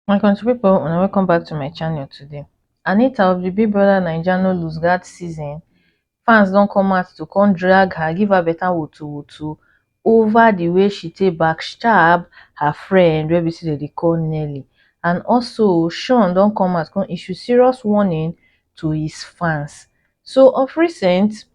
My country people, and welcome back to my channel today. Anita of the Big Brother Naija no lose that season. Fans don't come out to come drag her, give her better wutu wutu over the way she take backstab her friend wey be say dem call Nelly. And also, Sean don't come out come issue serious warning to his fans. So of recent,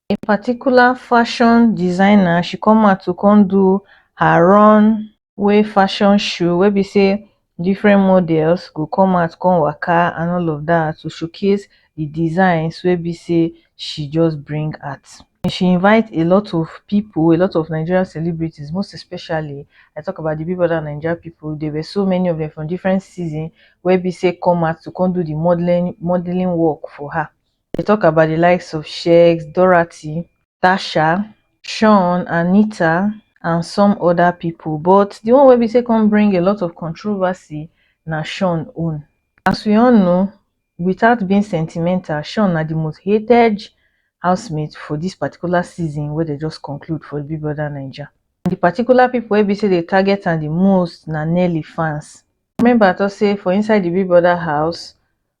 a particular fashion designer she come out to come do her run way fashion show wey be say different models go come out come waka and all of that to showcase the designs wey be say she just bring out and she invite a lot of people a lot of nigerian celebrities most especially i talk about the big brother nigeria people there were so many of them from different season wey be say come out to come do the modeling modeling work for her dey tok about di likes of sheik doherty tasha shaun anita and some oda pipo but di one wey be say come bring a lot of controversy na shaun own as we all know without being sentimental shaun na di most hated house mate for dis particular season wey dem just conclude for big brother naija di particular pipo wey be say dey target am di most na Nelly fans remember I tok say for inside di big brother house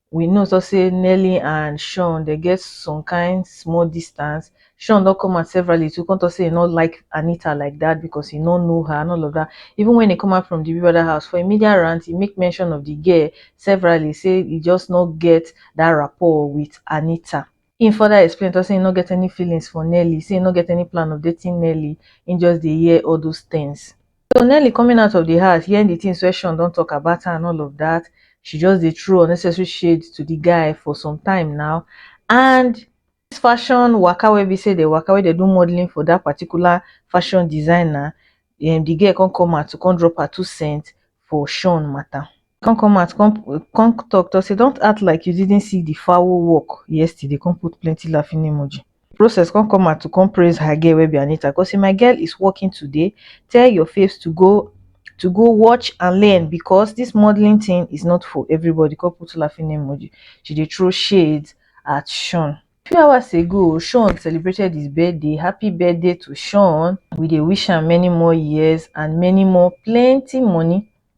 we know so say nelly and sean dem get some kind small distance sean don come out severally to come talk say he no like anita like that because he no know her and all of that even when he come out from the big brother house for a media rant he make mention of the girl severally say he just no get that rapport with anita Im further explain tok say im no get any feelings for Nelly, say im no get any plan of dating Nelly, im just dey hear all those things. So Nelly coming out of di house, hearing di things wey Sean don tok about her and all of dat, she just dey throw unnecessary shade to di guy for some time now and dis fashion waka wey be say dem waka, wey dem do modelling for dat particular fashion designer, di girl come come out to come drop her two cents for Sean matter. come come out come come talk talk say don't act like you didn't see the fowl work yesterday come put plenty laughing emoji process come come out to come praise her girl wey be anita come say my girl is working today tell your faves to go to go watch and learn because this modeling thing is not for everybody come put laughing emoji she dey throw shades at sean few hours ago sean celebrated his birthday happy birthday to sean we dey wish am many more years and many more plenty money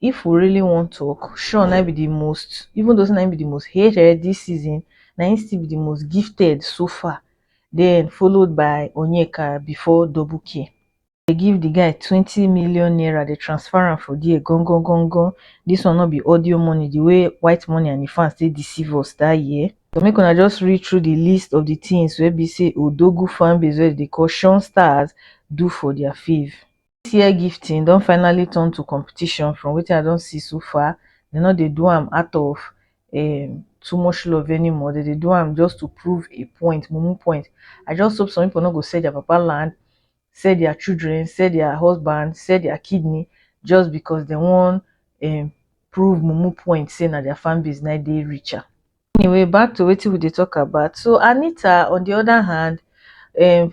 if we really wan talk, Shawn na be the most, even though na be the most hated this season, na him still be the most gifted so far. Then followed by Onyeka before Double K. They give the guy 20 million naira, they transfer him for there, gong gong gong gong. This one not be audio money, the way white money and the fans they deceive us that year. So make una just read through the list of the things where be say Odogu fan base where they call Shawn Stars do for their fave. Dis year gifting don finally turn to competition from wetin I don see so far, dem no dey do am out of um too much love anymore, dem dey do am just to prove a point, mumu point. I just hope some pipu no go sell their papa land, sell their children, sell their husband, sell their kidney just because dem wan um prove mumu point sey na their fan base na dey richer. Anyway back to wetin we dey talk about, so Anita on de other hand um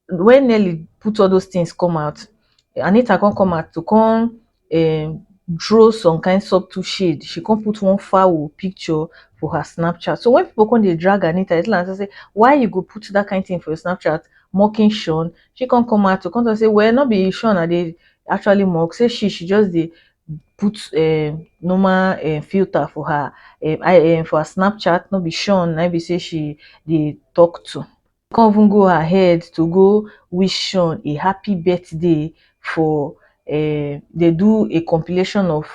when Nelly put all those things come out, Anita come come out to come um, draw some kind subtle shade. She come put one foul picture for her Snapchat. So when people come they drag Anita, it's like say, why you go put that kind of thing for your Snapchat, mocking Sean? She come come out to come and say, well, not be Sean, are they actually mock? Say she, she just the put uh, normal uh, filter for her uh, I, uh, for her Snapchat, not be Sean, I be say she they talk to. come even go ahead to go wish Sean a happy birthday for um dey do a compilation of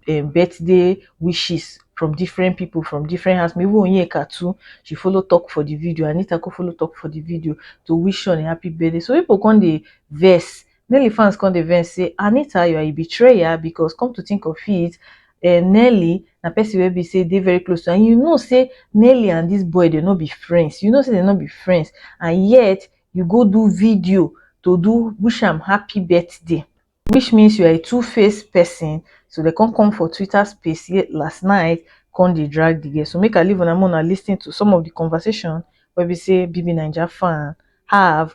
um birthday wishes from different people from different house even Onyeka too she follow talk for the video Anita come follow talk for the video to wish Sean a happy birthday so people come dey vex Nelly fans come dey vex say Anita you are a betrayer because come to think of it eh, Nelly na person wey be say dey very close to and you know say Nelly and this boy dey no be friends you know say dey no be friends and yet you go do video to do wish am happy birthday which means you are a two-faced person so they come come for Twitter space here last night come dey drag the girl so make I leave una make una lis ten to some of the conversation wey be say BBNaija fan have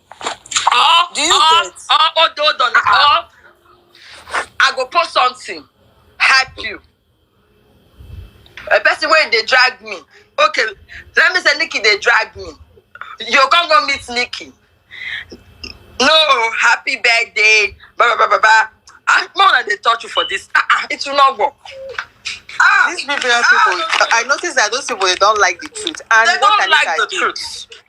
Or, Do you or, get? or, hold on, hold on. Or, I go post something, hype you. A person wey dey drag me. Okay, let me say Nikki dey drag me. You come go meet Nikki. No, happy birthday. Blah, blah, blah, blah, blah. Ah, more than they touch you for this. Ah, ah, it will not work. Ah, These people, people, I noticed that those people they don't like the truth. And they what don't Tanika like the did, truth.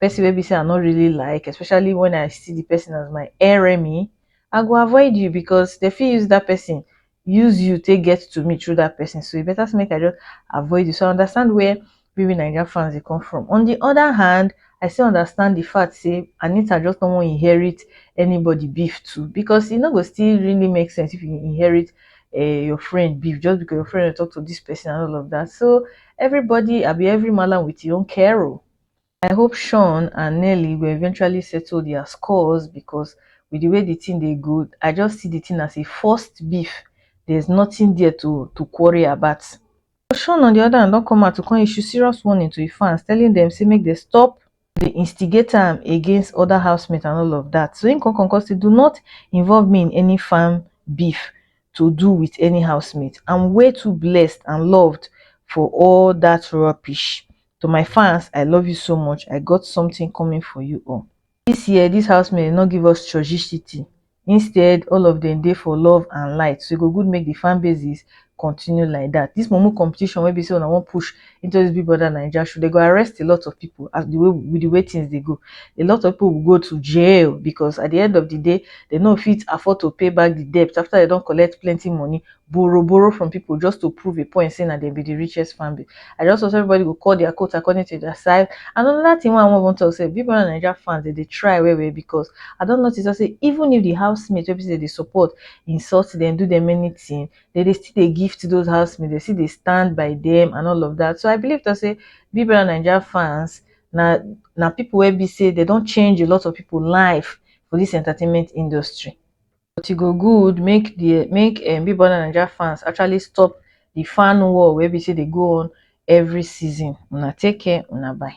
person wey be say I no really like, especially when I see the person as my enemy, I go avoid you because they fit use that person use you take get to me through that person. So e better say make I just avoid you. So I understand where Baby Naija fans they come from. On the other hand, I still understand the fact say Anita just don't want to inherit anybody beef too because e no go still really make sense if you inherit uh, your friend beef just because your friend talk to this person and all of that. So everybody, I be every malam with your own carol. I hope Shawn and Nelly go eventually settle their scores because with the way the thing dey go, I just see the thing as a forced beef. There's nothing there to, to quarry about. Shawn on the other hand don come out to come issue serious warning to his fans telling them say make they stop the instigator am against other housemates and all of that. So him come come come say do not involve me in any farm beef to do with any housemate. I'm way too blessed and loved for all that rubbish. To my fans, I love you so much, I got something coming for you all. This year, this housemate no give us churchishity, instead all of them dey for love and light, so e go good make the fan bases continue like that. This mumu competition wey be say una wan push into this Big Brother Naija show, they go arrest a lot of people as the way with the way things dey go. A lot of people will go to jail because at the end of the day, they no fit afford to pay back the debt after they don collect plenty money borrow borrow from people just to prove a point say na dem be the richest family i just hope everybody go call their coat according to their size and another thing wey i wan even talk say big brother naija fans dey dey try well well because i don notice am say even if the housemates wey be say dey dey support insult dem do dem anything dem dey still dey gift those housemates dem still dey stand by them and all of that so i believe talk say big brother naija fans na na people wey be say dem don change a lot of people life for this entertainment industry. but e go good make the make um big brother naija fans actually stop the fan war wey be say dey go on every season una take care una bye